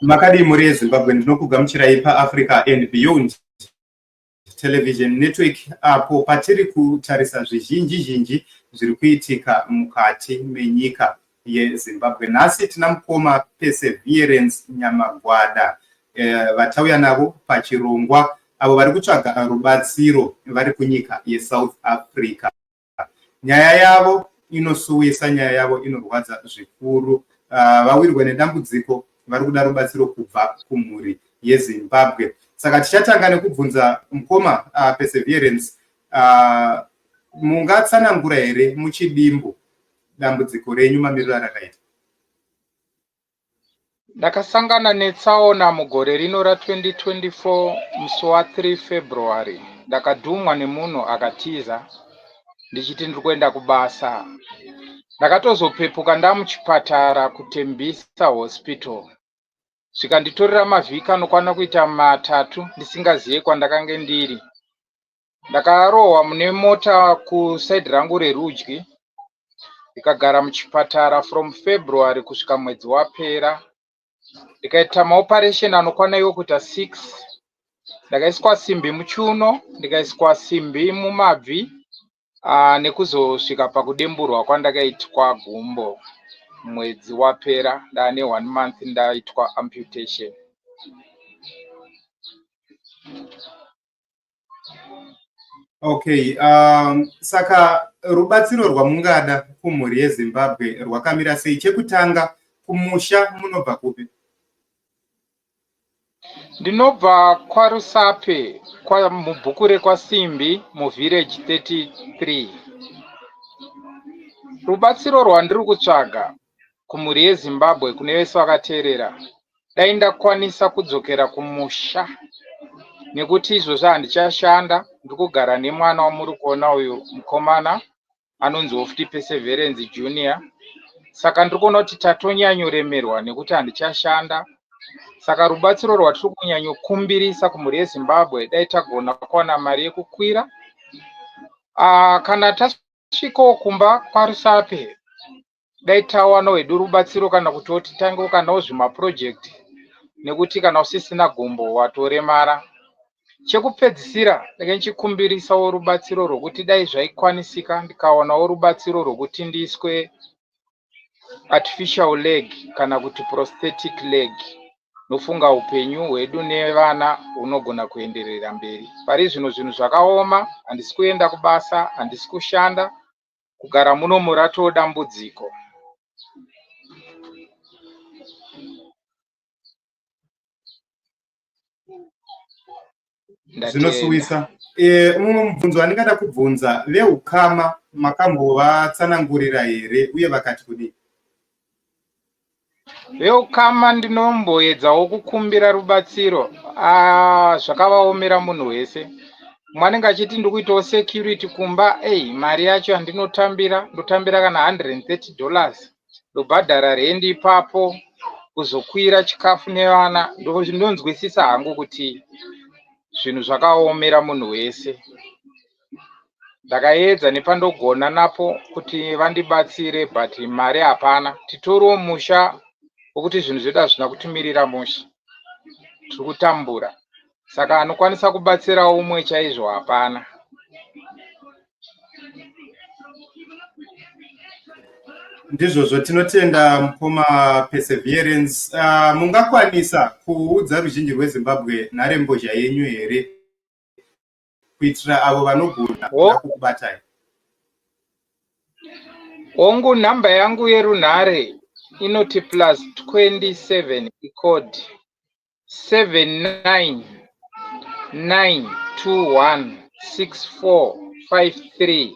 makadii mhuri yezimbabwe ndinokugamuchirai paafrica and beyond television network apo patiri kutarisa zvizhinji zhinji zviri kuitika mukati menyika yezimbabwe nhasi tina mukoma perseverance nyamagwada eh, vatauya navo pachirongwa avo vari kutsvaga rubatsiro vari kunyika yesouth africa nyaya yavo inosuwisa nyaya yavo inorwadza zvikuru uh, vawirwa nedambudziko vari kuda rubatsiro kubva kumhuri yezimbabwe saka tichatanga nekubvunza mukoma uh, perseverance uh, mungatsanangura here muchidimbu dambudziko renyu mamiriro arakaita Ndakasangana netsaona mugore rino ra 2024 musi wa 3 February ndakadhumwa nemunhu akatiza ndichiti ndiri kuenda kubasa. Ndakatozopepuka ndamuchipatara kuTembisa Hospital zvikanditorera mavhiki anokwana kuita matatu ndisingazive kwandakange ndiri. Ndakarohwa mune mota kuside rangu rerudyi ndikagara muchipatara from February kusvika mwedzi wapera. Ndikaita maoperation anokwana iwo kuita six. Ndakaiswa simbi muchuno, ndikaiswa simbi mumabvi uh, nekuzosvika pakudemburwa kwandakaitwa gumbo mwedzi wapera ndaane one month ndaitwa amputation. Okay, um, saka rubatsiro rwamungada kumhuri yeZimbabwe rwakamira sei? Chekutanga kumusha munobva kupi? Ndinobva kwaRusape kwa mubhuku rekwaSimbi muvillage 33. Rubatsiro rwandiri kutsvaga kumhuri yezimbabwe kune vese vakateerera dai ndakwanisa kudzokera kumusha nekuti izvozvi handichashanda ndiri kugara nemwana wamuri kuona uyu mukomana anonzi ofti perseverance junior saka ndiri kuona kuti tatonyanyoremerwa nekuti handichashanda saka rubatsiro rwatiri kunyanyokumbirisa kumhuri yezimbabwe dai tagona kuwana mari yekukwira uh, kana tasvikawo kumba kwarusape dai tawana wedu rubatsiro kana kuti wotitangewo kanawo zvimapurojekiti nekuti kana usisina gumbo watoremara chekupedzisira ndenge ndichikumbirisawo rubatsiro rwokuti dai zvaikwanisika ndikaonawo rubatsiro rwokuti ndiiswe artificial leg kana kuti prosthetic leg nofunga upenyu hwedu nevana hunogona kuenderera mberi pari zvino zvinhu zvakaoma handisi kuenda kubasa handisi kushanda Kugara munomu ratoo dambudziko. Zvinosuwisa. Eh, mumwe mubvunzo wandingada kubvunza veukama makambovatsanangurira here uye vakati kudii? Veukama ndinomboedzawo kukumbira rubatsiro ah, zvakavaomera munhu wese mumwe anenge achiti ndikuitawo security kumba ei mari yacho yandinotambira ndotambira kana 130 dollars ndobhadhara rendi ipapo kuzokwira chikafu nevana ndonzwisisa hangu kuti zvinhu zvakaomera munhu wese ndakaedza nepandogona napo kuti vandibatsire but mari hapana titoriwo musha wekuti zvinhu zvedu hazvina kutimirira musha tiri kutambura saka anokwanisa kubatsirawo umwe chaizvo hapana ndizvozvo tinotenda mukoma perseverance uh, mungakwanisa kuudza ruzhinji rwezimbabwe nharembozha yenyu here kuitira avo vanogona kuda kukubatai. Hongu number yangu yerunhare inoti plus 27 icode 799216453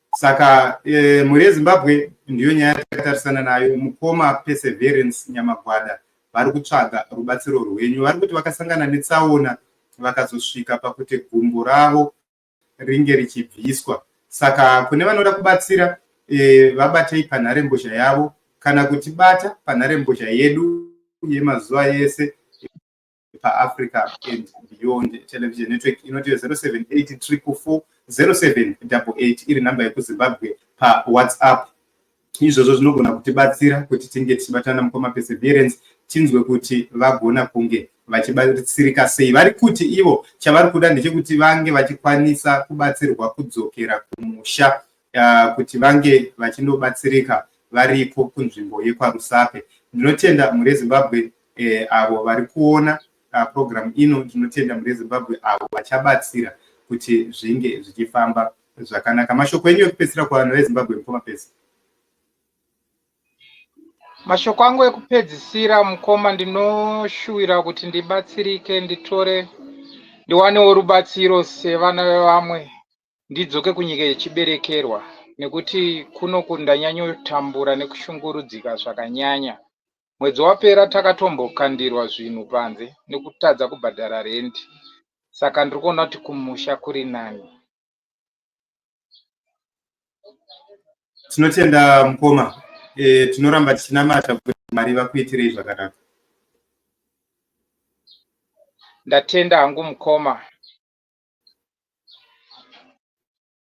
saka eh, mhuri yezimbabwe ndiyo nyaya yatatarisana nayo mukoma perseverance nyamagwada vari kutsvaga rubatsiro rwenyu vari kuti vakasangana netsaona vakazosvika pakuti gumbo ravo ringe richibviswa saka kune vanoda kubatsira eh, vabatei panharembozha yavo kana kutibata panharembozha yedu yemazuva yese paafrica and beyond television network inoti 078 triple 4 0788 iri nhamba yekuzimbabwe pawhatsapp izvozvo zvinogona kutibatsira kuti tinge tichibatana mukoma perseverance tinzwe kuti vagona kunge vachibatsirika sei vari kuti ivo chavari kuda ndechekuti vange vachikwanisa kubatsirwa kudzokera kumusha uh, kuti vange vachinobatsirika varipo kunzvimbo yekwarusape ndinotenda mhuri yezimbabwe eh, avo vari kuona uh, program ino tinotenda mune zimbabwe avo vachabatsira kuti zvinge zvichifamba zvakanaka mashoko enyu ekupedzisira kuvanhu vezimbabwe mukoma pesi mashoko angu ekupedzisira mukoma ndinoshuwira kuti ndibatsirike nditore ndiwanewo rubatsiro sevana vevamwe Ndidzoke kunyika yechiberekerwa nekuti kunoku ndanyanyotambura nekushungurudzika zvakanyanya. Mwedzi wapera takatombokandirwa zvinhu panze nekutadza kubhadhara rent saka ndiri kuona kuti kumusha kuri nani. tinotenda mukoma e, tinoramba tichinamata kuti mwari vakuitirei zvakanaka ndatenda hangu mukoma